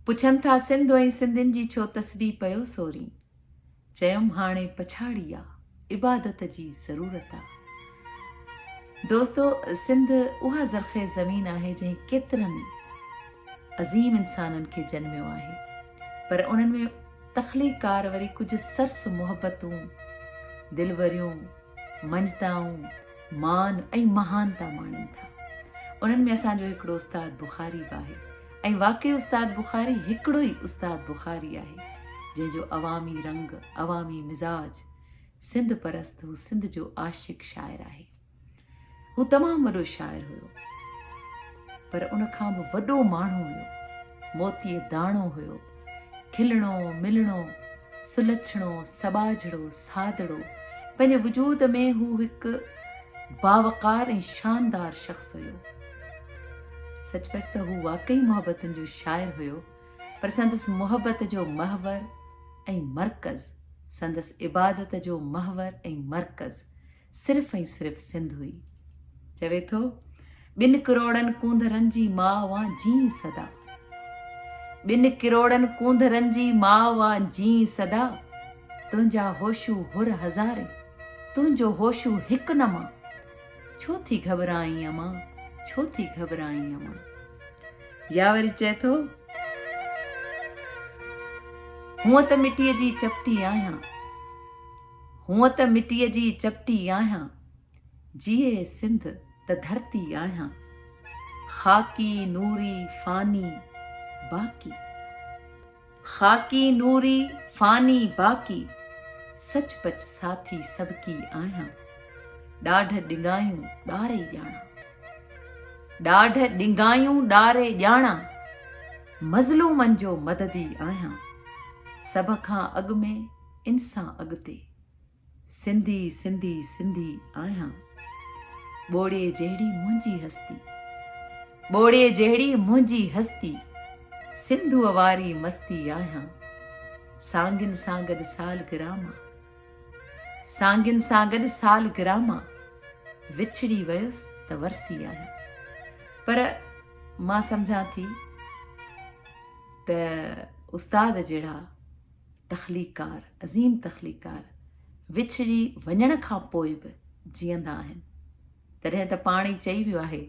پڇن ٿا سنڌ ۽ سنڌين جي ڇو تسبيح پيو سورين. چيم هاڻي پڇاڙي آ عبادت جي ضرورت آ. دوستو سنڌ اها زرخيز زمين آهي جنهن ڪيترن عظيم انسانن کي جنميو آهي پر انهن ۾ تخليق ڪار وري ڪجهه سرس محبتون دلوريون منجتائون مان ۽ مهانتا ماڻين ٿا انهن ۾ اسان جو هڪڙو استاد بخاري به آهي ۽ واقعي استاد بخاري هڪڙو ئي استاد بخاري آهي جنهن جو عوامي رنگ عوامي مزاج سنڌ پرست هو سنڌ جو عاشق شاعر آهي هو تمام وڏو شاعر هيو پر ان کان به وڏو ماڻهو هيو موتي داڻو هيو کلڻو، ملڻو، سلڇڻو، سٻاجهڙو، سادڙو، پنهنجي وجود ۾ هو هڪ باوقار ۽ شاندار شخص هيو. سچ پچ ته هو واقعي محبتن جو شاعر هيو، پر سندس محبت جو محور ۽ مرڪز، سندس عبادت جو محور ۽ مرڪز، صرف ۽ صرف سنڌ هئي. چوي ٿو ٻن ڪروڙن ڪونڌرن جي ماء وان جيئي سدا. ٻن ڪروڙن ڪونڌرن جي ماء وان جيئي سدا. تنهنجا هوشو هر هزارين، تنهنجو هوشو هڪ نه مان. ڇو ٿي گهٻرائين امان، ڇو ٿي گهٻرائين امان. يا وري چئي ٿو هونء ته مٽيء جي چپٽي آهيان. هونء ته مٽيء جي چپٽي آهيان، جيئي سنڌ ته ڌرتي آهيان. خاڪي نوري فاني باقي. خاڪي نوري فاني باقي، سچ پچ ساٿي سڀڪي آهيان. ڏاڍ ڏنگايون ڏاري ڄاڻان. ڏاڍ ڏنگايون ڏاري ڄاڻان، مظلومن جو مددي آهيان. سڀ کان اڳ ۾. ان سان اڳتي سنڌي سنڌي سنڌي آهيان ٻوڙي جهڙي منهنجي هستي ٻوڙي جهڙي منهنجي هستي سنڌو واري مستي آهيان سانگين سان گڏ سال گراما سانگين سان گڏ سال گراما وڇڙي ويس ته ورسي آهيان پر مان سمجھان ٿي ته استاد جهڙا تخليقڪار، عظيم تخليقڪار وڇڙي وڃڻ کان پوء به جيئندا آهن، تڏهن ته پاڻ ئي چئي ويو آهي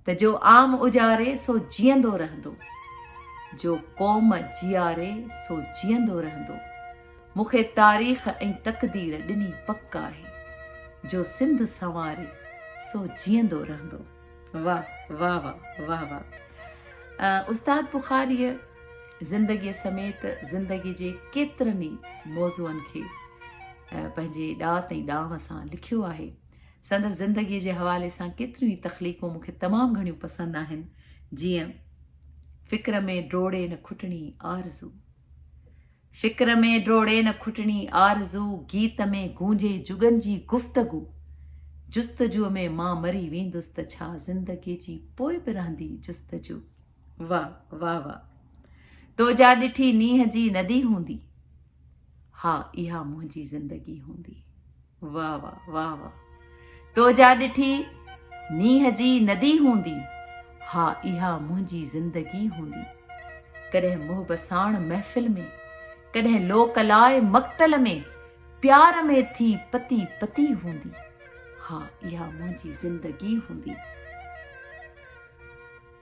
ته جو عام اجاري سو جيئندو رهندو، جو قوم جياري سو جيئندو رهندو، مون کي تاريخ ۽ تقدير ڏني پڪ آهي، جو سنڌ سنواري سو جيئندو رهندو. واه واه واه واه واه استاد بخاريء زندگيء سميت زندگي جي ڪيترن ئي موضوعن کي پنهنجي ڏات ۽ ڏانء سان لکيو آهي سندس زندگيء جي حوالي سان ڪيتريون ئي تخليقون مونکي تمام گهڻيون پسند آهن جيئن فڪر ۾ ڊوڙي نه کٽڻي آرزو فڪر ۾ ڊوڙي نه کٽڻي آرزو گيت ۾ گونجي جڳن جي گفتگو جستجوء ۾ مان مري ويندس ته ڇا زندگي جي پوء به رهندي جستجو واه واه واه تو جا ڏٺي نينهن جي ندي هوندي ها اها منهنجي زندگي هوندي واه واه واه واه تو جا ڏٺي مينهن جي ندي هوندي ها اها منهنجي زندگي هوندي ڪڏهن محب ساڻ محفل ۾ ڪڏهن لوڪ لاء مقتل ۾ پيار ۾ ٿي پتي پتي هوندي ها اها منهنجي زندگي هوندي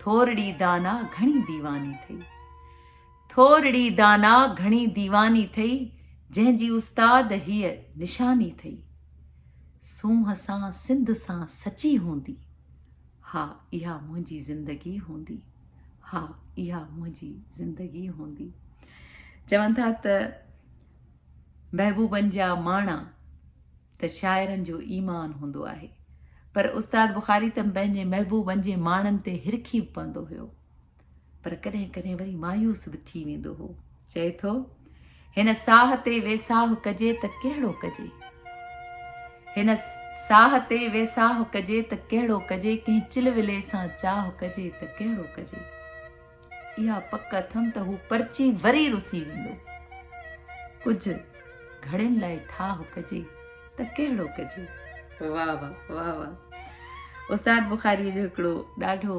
ٿورڙي دانا گھڻي ديواني ٿئي ٿورڙي دانا گهڻي ديواني ٿئي جنهن جي استاد هيء نشاني ٿئي سونهن سان سنڌ سان سچي هوندي ها اها منهنجي زندگي هوندي ها اها منهنجي زندگي هوندي چون ٿا ته محبوبن جا ماڻا ته شاعرن جو ايمان هوندو آهي پر استاد بخاري ته پنهنجي محبوبن جي ماڻن تي هرکي پوندو هيو پر ڪڏهن ڪڏهن وري مايوس به ٿي ويندو هو چئي ٿو هن ساهه تي ويساهه ڪجي ته ڪهڙو ڪجي هن ساهه تي ويساهه ڪجي ته ڪهڙو ڪجي ڪنهن چل ولي سان چاهه ڪجي ته ڪهڙو ڪجي اها پڪ اٿم ته هو پرچي وري رسي ويندو ڪجهه گهڙين لاء ٺاهه ڪجي ته ڪهڙو ڪجي واهه واهه واهه واهه استاد بخاري جو هڪڙو ڏاڍو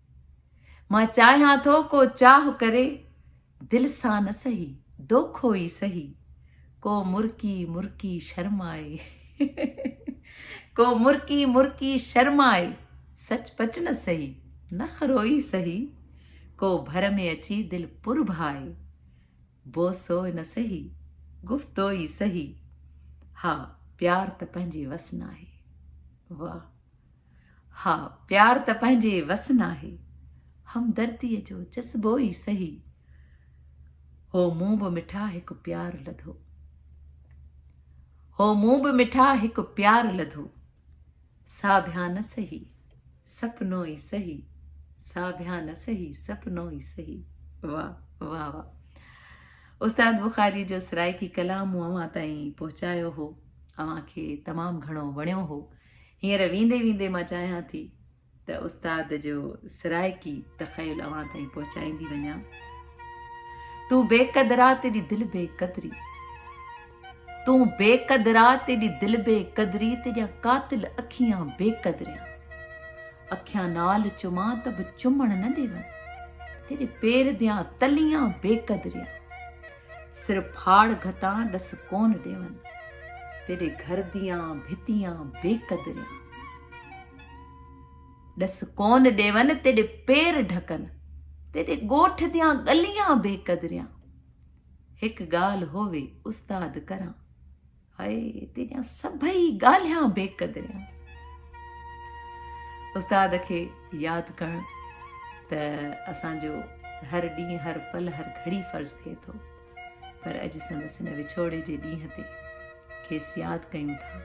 مان چاهيان ٿو ڪو چاهه ڪري دل سان نه سهي دوکو ئي سهي ڪو مرڪي مرڪي شرمائي ڪو مرڪي مرڪي شرمائي سچ پچ نه سهي نخرو ئي سهي ڪو ڀر ۾ اچي دل پر ڀائي بوسو نه سهي گفتو ئي سهي ها پيار ته پنهنجي وس ناهي واه ها پيار ته پنهنجي وس ناهي همدرديء جو جذبو ئي سهي هو مون به مٺا هڪ پيار لڌو هو مون به مٺا هڪ پيار لڌو سا بيا نه سهي سپنو ئي سهي سا بيا نه سهي سپنو ئي سهي واهه واهه واهه استاد بخاري جو سرائيڪي ڪلام اوهان تائين پهچايو هو اوهان کي تمام گهڻو وڻيو هو هينئر ويندي ويندي مان چاهيان ٿي ته استاد جو سرائيڪي تخيل اوهان تائين پهچائيندي وڃان تون بي قدرا تيڏي دل بي قدري تون بي قدرا تيڏي دل بي قدري تيڏيا قاتل اکيان بي قدريا اکيان نال چما ته به چمڻ نه ڏيون تيري پير ديان تليان بي قدريا سر ڦاڙ گهتان ڏس ڪون ڏيون. تيڏي گهر ديان ڀتيان بي قدريان. ڏس ڪون ڏيون تيڏي پير ڍڪن. تيڏي ڳوٺ ديان ڳليان بي قدريان. هڪ ڳالهه هووي استاد ڪران. هاء تنهنجا سڀئي ڳالهيان بي قدريان استاد کي ياد ڪرڻ ته اسان جو هر ڏينهن هر پل هر گهڙي فرض ٿئي ٿو پر اڄ سندس هن وڇوڙي جي ڏينهن تي کيس ياد ڪيون ٿا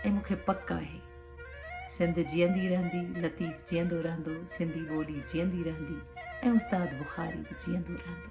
۽ مونکي پڪ آهي سنڌ جيئندي رهندي لطيف جيئندو رهندو سنڌي ٻولي جيئندي رهندي ۽ استاد بخاري به جيئندو رهندو